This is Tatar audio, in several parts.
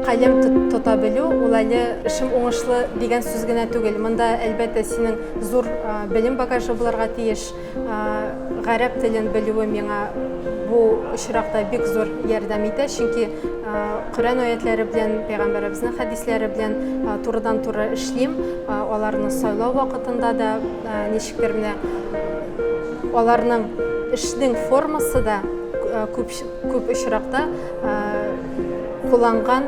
Калем тота белү ул әле эшем уңышлы дигән сүз генә түгел. Монда әлбәттә синең зур белем багажы булырга тиеш. Гарәп телен белүе миңа бу очракта бик зур ярдәм итә, чөнки Коръән аятләре белән, пәйгамбәребезнең хәдисләре белән турыдан-туры эшлим. Аларны сайлау вакытында да Менә аларның эшнең формасы да күп күп очракта кулланган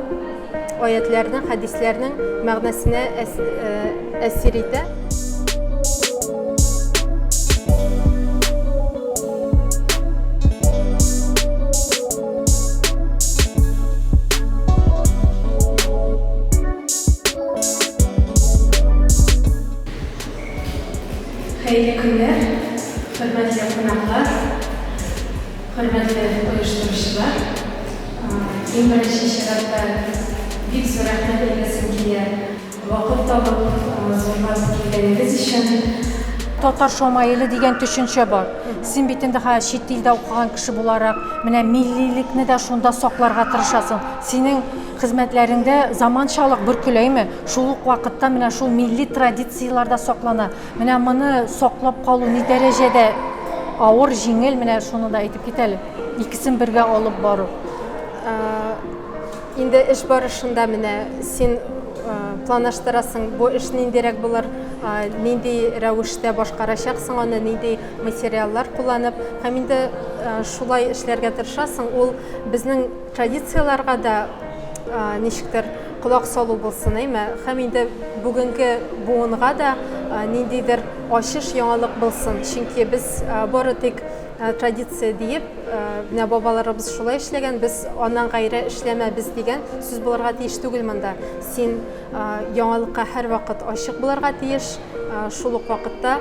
аятләрнең, хәдисләрнең мәгънәсенә әсир итә. Хәерле көннәр, хөрмәтле кунаклар, хөрмәтле оештыручылар! Иң беренче чиратта бик зур рәхмәт әйтәсем килә, вакыт табып, зурлап килгәнегез өчен. Татар шомаиле дигән төшенчә бар. Син бит инде хәзер чит илдә укыган кеше буларак, менә миллилекне дә шунда сакларга тырышасың. Синең Хезмәтләреңдә заманчалык бөркеләйме? Шул ук вакытта менә шул милли традицияләр дә саклана. Менә моны саклап калу ни дәрәҗәдә авыр, җиңел, менә шуны да әйтеп кит әле. Икесен бергә алып бару. Инде эш барышында менә син планлаштырасың, бу эш ниндирәк булыр, нинди рәвештә башкарачаксың аны, нинди материаллар кулланып, һәм инде шулай эшләргә тырышасың. Ул безнең Традицияләргә дә ничектер колак салу булсын, әйме? Һәм инде бүгенге буынга да ниндидер ачыш, яңалык булсын. Чөнки без бары тик традиция диеп, менә бабаларыбыз шулай эшләгән, без аннан гайре эшләмәбез дигән сүз булырга тиеш түгел монда. Син яңалыкка һәрвакыт ачык булырга тиеш, шул ук вакытта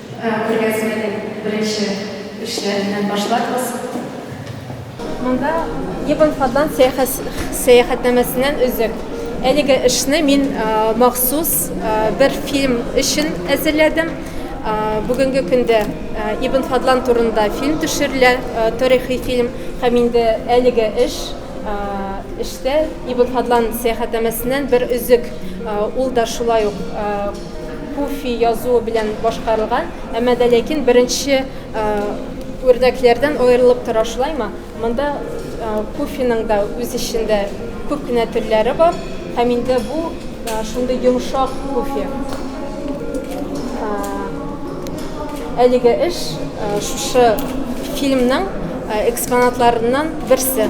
Күргәзмәнең беренче эшләре белән башларбыз. Монда Ибн Фадлан сәяхәтнамәсеннән өзек. Әлеге эшне мин махсус бер фильм өчен әзерләдем. Бүгенге көндә Ибн Фадлан турында фильм төшерелә, тарихи фильм. Һәм инде әлеге эш эштә Ибн Фадлан сәяхәтнамәсеннән бер өзек. Ул да шулай ук Пуфи язуы белән башкарылган, әмма дә ләкин беренче үрнәкләрдән аерылып тора шулаймы? Монда пуфиның да үз эчендә күп кенә төрләре бар, һәм инде бу шундый йомшак пуфи. Әлеге эш шушы фильмның экспонатларыннан берсе.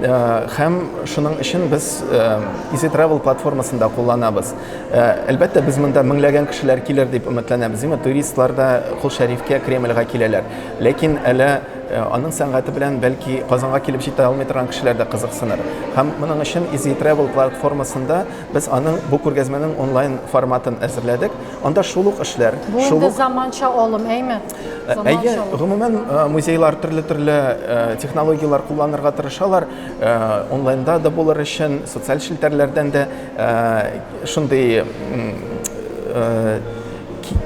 Һәм шуның өчен без Easy Travel платформасын да кулланабыз. Әлбәттә, без монда меңләгән кешеләр килер дип өметләнәбез. Димәк, туристлар да Кол Шәрифкә, Кремльгә киләләр. Ләкин әле аның сәнгате белән бәлки Казанга килеп җитә алмый торган кешеләр дә кызыксыныр. Һәм моның өчен Easy Travel платформасында без аның бу күргәзмәнең онлайн форматын әзерләдек. Анда шул ук эшләр, шул ук. Бу инде заманча алым, әйме? Әйе, гомумән музейлар төрле-төрле технологияләр кулланырга тырышалар. Онлайнда да булыр өчен, социаль челтәрләрдән дә шундый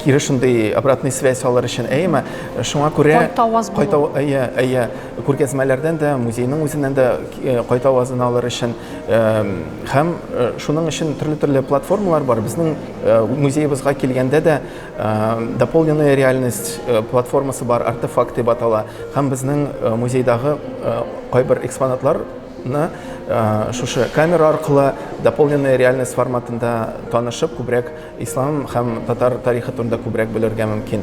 кире шундый обратный связь алыр өчен әйеме шуңа күрә кайта аваз кайта әйе әйе күргәзмәләрдән дә музейның үзеннән дә кайта авазын алыр өчен һәм шуның өчен төрле төрле платформалар бар безнең музеебызга килгәндә дә Э, дополненная реальность э, платформасы бар артефакт деп атала һәм безнең э, музейдагы кайбер экспонатларны шушы камера аркылы дополненная реальность форматында танышып күбрәк ислам һәм татар тарихы турында күбрәк белергә мөмкин